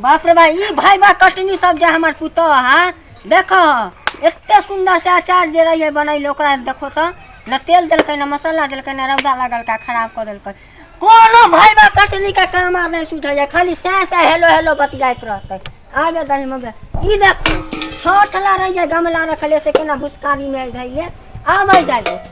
बाप रे बा ई भाई बा कटनी सब जे हमर पुतह हा देखो एते सुंदर से अचार जे रही है बनैले ओकरा देखो तो न तेल देलकै न मसाला देलकै न रौदा लगलका खराब कर देलकै कोनो भाई बा कटनी के काम आब नहीं सुझैया खाली सै सै हेलो हेलो बतियाइत रहतै आबे दही मबे ई देखो छोटला रहिए गमला रखले से केना भुसकारी में धैले आबै जाइए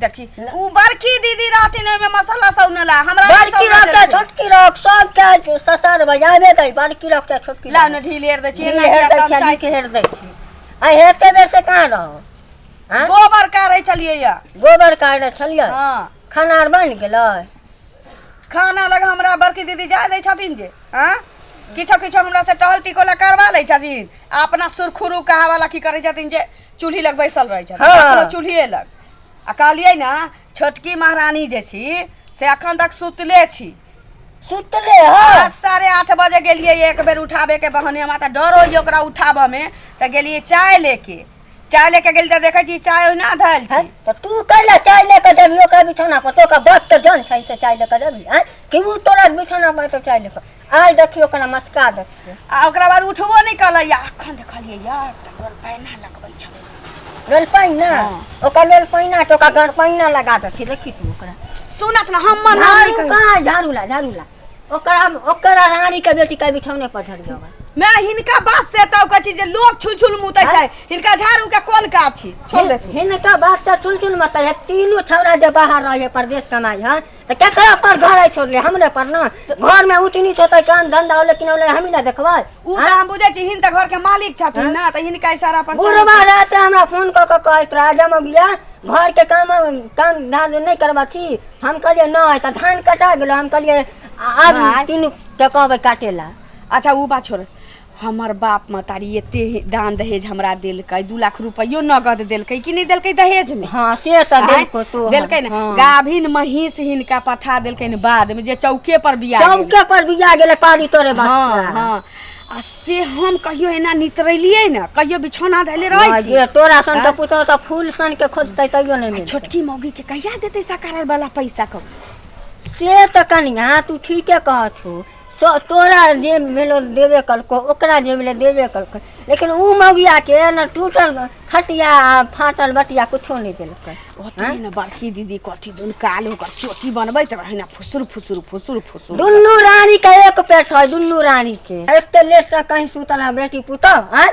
देखी ऊ बड़की दीदी रहथिन ओहिमे मसाला सौनला हमरा नहि बड़की सौनऽ रख चाहे देलखिन। छोटकी रख सब चाहे ससर बजाबे दै बड़की रख चाहे छोटकी लाउ ने ढील हेर दै छियै ढील ना हेर दै छियै, नीक हेर दै छियै। आ हेते बेर से कहाँ रहो आँय? गोबर काढ़ै छलियै या गोबर काढ़े छलियै हँ खाना आर बनि गेलै खाना लग हमरा बड़की दीदी जाय दै छथिन जे आँ किछो किछो हमरा से टहल टिकोला करवा लै छथिन आ अपना सुरखुरू कहावला की करै छथिन जे चूल्हि लग बैसल रहै छथि हँ। कखनो चूल्हिए लग आ कहलियै ने छोटकी महारानी जे छी से अखन तक सुतले छी सुतले हँ आठ साढ़े आठ बजे गेलियै एक बेर उठाबे के बहने हमरा तऽ डर होइए ओकरा उठाबऽ मे तऽ गेलियै चाय लेके चाय लेके गेलियै तऽ देखै छी चाय ओहिना धैल छै तऽ तू कैला चाय ले कऽ देबही ओकरा बिछौना पर तो ओकरा बाप के जान छै से चाय ले कऽ देबही हैं कि ऊ तोरा बिछौना पर तो चाय ले कऽ आइ देखियो कना मस्का देखियो आ ओकरा बाद उठबो नहि कलै या अखन देखलियै यार तऽ डोल पैना लगबै छलै लोल पाइना हाँ। ओकर लोल पाइना तो ओकर गड़ पाइना लगा देथिन देखी तू ओकरा सुनत ना हम मना झाड़ू नहीं करी। कहाँ झाड़ू ला झाड़ू ला ओकरा ओकरा रानी के बेटी के बिठौने पर धर गयो मैं हिनका बात से तब कहै छी जे लोग छुल छुल मुतै छै हिनका झाड़ू के कोन काज छी छोड़ दे हिनका बात से चुन चुन मत है तीनों छौरा जे बाहर रहे परदेश कमाई है तऽ केकरा पर घर आइ छोड़ले हमरे पर ना घर में ऊँच नीच होते काम धंधा होले कि ना होले हम ही ना देखबै उ त हम बुझै छी हिन त घर के मालिक छथिन ना त हिनका इशारा पर चलै बुढ़वा छी। रहते हमरा फोन कऽ के कहैत रहे जब हम गया घर के काम काम धान नहीं करबा छी हम कहलिए नहीं तो धान कटा गेलो हम कहलिए आ- आज भाय। तीन के कहबे काटे ला अच्छा उ बात छोड़ हमर बाप महतारी एते हे- दान दहेज हमरा देलकै दू लाख रुपयो नगद देलकै कि नहीं देलकै दहेज में हाँ से तो आँय? देलको तो देलकै ने हाँ। गाभिन महींस हिनका पठा देलकै ने बाद में जे चौके पर बिया गेलै। चौके पर बिया गेले पानी तोरे हाँ बच्चा हाँ आ से हम कहियो एना नितरेलियै ने कहियो बिछौना धैले रहै हाँ, छी जे तोरा सन आँय? तो पुतो तो फूल सन के खोजते तैयो नहीं मिलते छोटकी मौगी के कहिया देतै सकारल वाला पैसा कब से तो कनिया तू ठीके कहत हो तो तोरा जे भेलो देबे कलको ओकरा जे भेलो देबे कलको लेकिन ऊ मौगिया के न टूटल खटिया आ फाटल बटिया कुछो नहीं देलकै ओतनी ने बड़की दीदी कथी दुन काल ओकर चोटी बनबैत रहे ना फुसुर फुसुर फुसुर फुसुर दुनू रानी के एक पेट है दुनू रानी के एते लेट तक कहीं सुतल है बेटी पुतौ आय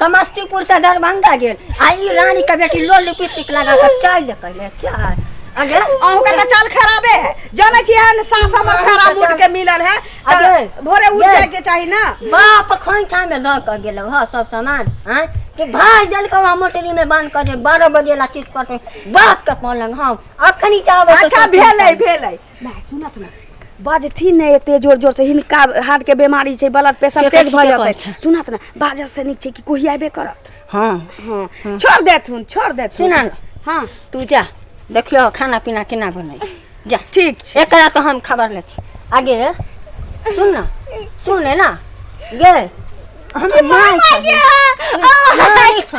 समस्तीपुर से दरभंगा गेल आ ई रानी के बेटी लो लिपस्टिक लगा के चल कहले चल अगे अहू के तो चल खराबे है जाने छी है साफ हमर खराब मूड के मिलल है तो अरे, भोरे उठ ये। जाए के चाही ना बाप खोइठा में लऽ कऽ गेलौ हँ सब सामान आँय कि भाइ देलकौ हँ मोटरी में बांध कऽ जे बारह बजे ला चित करतै बाप के पलंग हम अखनी चाहबै अच्छा भेलै भेलै माय सुनत ने बाजथिन ने एते जोर जोर से हिनका हार्ट के बीमारी छै ब्लड प्रेशर से तेज भ कथी के जेतै कहथिन? सुनत ने बाजऽ से नीक छै कि कोही आइबे करत हाँ हाँ छोड़ देथुन छोड़ देथुन सुना ने हाँ तू जा देखियो खाना पीना केना बनै जा ठीक छै एकरा तो हम खबर ले छी आगे सुन ना सुन है ना गे हम माय माय छौ।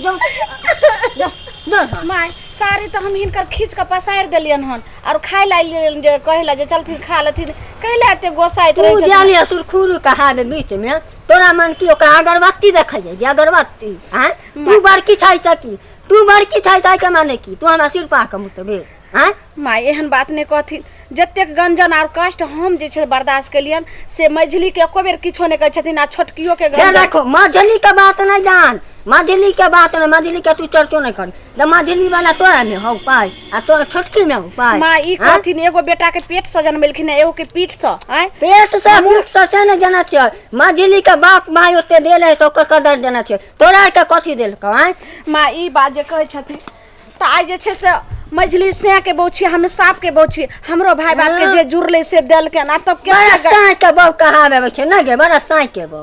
जो जो जो सन। माय साड़ी तो हम हिनकर खींच के पसारि देलियन हन और खाए ला लेलियन जे कहे ला जे चलथिन खा लेथिन कैला एते गोसाइत तू रहे जानी असुर खुरु कहा में बीच में तोरा मन की ओकरा अगरबत्ती देखै जे अगरबत्ती हैं तू बड़की छै सकी तू बड़की छै ताहि के माने की तू हमरा सिर पा के मुतबे आँय माय एहन बात नहि कहथिन जतेक गंजन आर कष्ट हम जे छै बर्दाश्त केलियन से मझली के एको बेर किछो नहि कहै छथिन आ छोटकियो के गंजन देखो मझली के बात नहीं जान मझली के बात नहीं मझली के तू चर्चो नहीं कर तो मझली वाला तोरा में हो पाए आ तोरा छोटकी में हो पाए माँ ई हाँ? कहथिन एगो बेटा के पेट से जनमेलखिन है, एगो के पीठ से आय पेट से मुख से से नहीं जाना चाहिए मझली के बाप भाई होते देले है तो ओकर कदर देना चाहिए तोरा के कथी देलको आए माँ ई बात जे कहै छथिन तऽ आइ जे छै से मझली सैके बौ छी हम सापके बौ छी हमरो भाय बाप के जे जुड़ले से देलके ना तब के बड़ा साँच के बौ कहावे अबै छै ना गे बड़ा साँच के बौ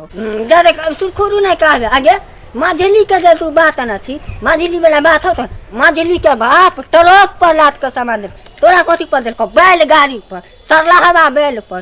जरे सुखुरू नहीं कहावे आगे मझली के जे तू बात ना छी मझली वाला बात हो तो मझली के बाप ट्रक पर लाद के सामान दे तोरा कथी पर देलको बैलगाड़ी पर सरला हवा बैल पर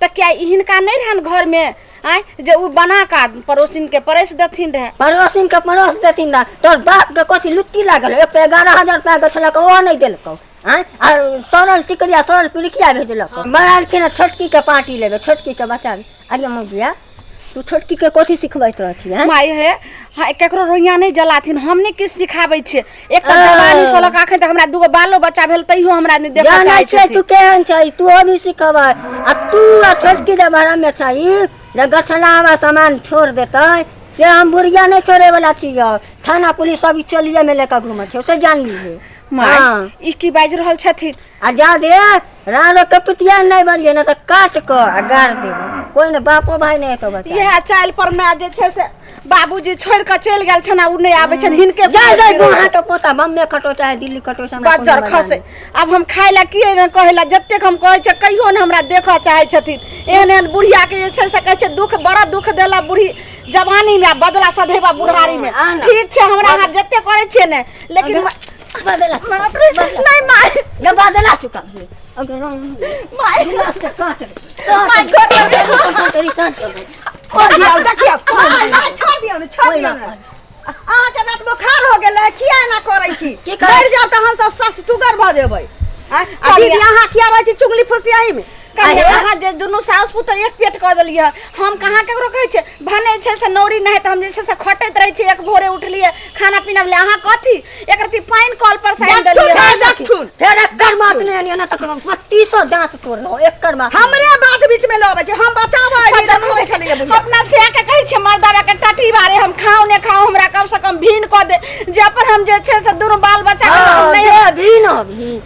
तऽ क्या हिनका नहि रहन घरमे आँय जे ओ बना का पड़ोसिन के परसि देथिन रहे पड़ोसिन के पड़ोस देथिन ना तोर बाप के कथी लुट्टी लागल एक तो एगारह हजार रुपया के छलक ओहो नहीं देलकौ आँय आर सड़ल टिकरिया सड़ल पिड़किया भेजलक मरालखिन छोटकी के पार्टी लेबे छोटकी के बचा आगे मौगिया तू छोटकी के कथी सिखबैत रहथी हैं माय हे हाँ, केकरो रोइया नहीं जलाथिन हम नहीं किछु सिखाबै छियै एक तऽ हाँ। जवानी सोलक अखन तक हमरा दूगो बालो बच्चा भेल तैयो हमरा नहीं देखऽ जानै चाहै छै तू छथिन केहन छै तू अभी सिखबै आ तू आ छोटकी जे भरमे छै जे गछला हमरा सामान छोड़ देतै से हम बुढ़िया नहि छोड़े वाला छियै थाना पुलिस सब ई चोलिये में लेकर घूमै छै से जान लीजिए माय हाँ। ई की बाजि रहल छथिन आ जा दे रानो के पितिया नहीं बनिए ना तो काट कर आ गाड़ दे कोई ना बापो भाई नहीं तो बता इहे चाइल पर में जे छै से बाबूजी छोड़ के चलि गेल छन आ उ नहीं आबै छन हिनके जा जा घुमैत गोहा रहै। तो पोता बम्मे कटो चाहे दिल्ली कटो चाहे हमरा बच्चर कोनो मजा खसे नहीं। अब हम खाय ला की एहन कहै ला जतेक हम कहै छै कहियो ने हमरा देखऽ चाहै छथिन एहन एहन बुढ़िया के जे छै से कहै छै दुख बड़ा दुख देला बुढ़ी जवानी में आ बदला सधेबा बुढ़ारी में आ ना। ठीक छै हमरा अहाँ जते करै छियै ने लेकिन अहाँके रात बोखार हो गेल है किया एना करै छी की करै? मरि जाउ तऽ हमसभ सस टुगर भऽ जेबै आँय? आ दीदी अहाँ किया रहै छी चुगली फुसियाही में कहिया अहाँ जे दुनू साउस पुतौ एक पेट कऽ देलियै हम कहाँ ककरो कहै छियै भने छै से नौरी नहि तऽ हम जे छै से खटैत रहै छियै एक भोरे उठलियै खाना पीना भेलै अहाँ कथी एक रत्ती पानि कल पर से आनि देखथुन देलियै रे, देखथुन फेर एकर मास नहि आनियो ना तऽ हम पच्चीसो दाँत तोड़लहुँ एकर मास हमरे बात बीच में लबै छै हम बचाबऽ एलियै तऽ कहै छलियै बुढ़िया अपना से के कहै छै मर्दावा के टटी बारे हम खाओ ने खाओ हमरा कम से कम भीन कऽ दे जे अपन हम जे छै से दुनू बाल बच्चा के हम नहि भी न भी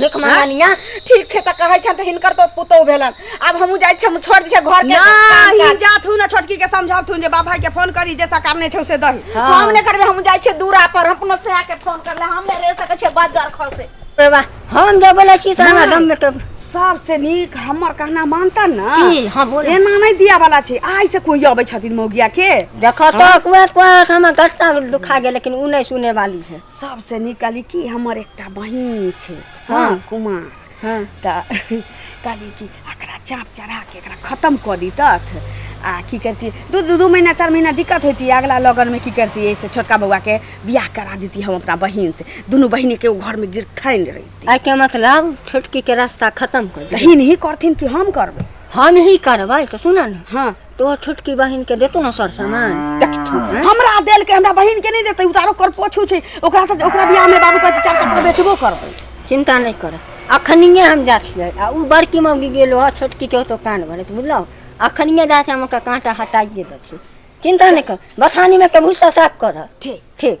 भीख मंगनिया ठीक छै तऽ कहै छन तऽ हिनकर तो पुतौ भेलन आब हमहूँ जाइ छी हम छोड़ दै छियै घर के काम नहीं काज। जात हूँ ना छोटकी के समझात हूँ जे बाप भाई के फोन करी जे सकार नहीं छौ से दही हाँ। हम नहि करबै हम जाइ छियै दूरा पर अपनो से आके फोन कर ले हम नहि रह सकै छियै बाजार खसे रे बा हम जे बोले छी से हमरा नहीं। गम में तो सबसे नीक हमर कहना मानता ना की हम बोले एना नहीं दिया वाला छै आइ से कोई अबै छथिन मौगिया के देखो तो कुआ कुआ हमर गट्टा दुखा गेल लेकिन उ नहीं सुने वाली है सबसे नीक कहली कि हमर एकटा बहिन छै हाँ हाँ। कुमार हाँ तऽ कहली कि एकरा चाँप चढ़ा के एकरा खत्म कऽ दीतथ आ की करती दू दू दू महीना चार महीना दिक्कत होती अगला लगन में की करती ऐसे छोटका बौआ के बियाह करा देती हम अपना बहिन से दुनू बहिनी के उ घर में गिरथैन रहती आइ के मतलब छोटकी के रास्ता खत्म कर दे तही नहीं करथिन कि हम करबै हम ही करबै तऽ सुन ने हाँ तोहर छोटकी बहिन के देतो ना सर सामान देख तू, हमरा देल के हमरा बहिन के नहीं देते उतारो कर पोछू छै ओकरा से ओकरा बियाह में बाबू कहै छै चार कपड़ा बेचबो करबै चिंता नहीं कर अखनिए हम जा छियै आ उ बड़की मौगी गेलो ह छोटकी के तो कान भरत बुझलौ अखनिए जा के हम ओकर कांटा हटाइए दै छी चिंता नहीं कर बथानी में के भूसा साफ कर ठीक ठीक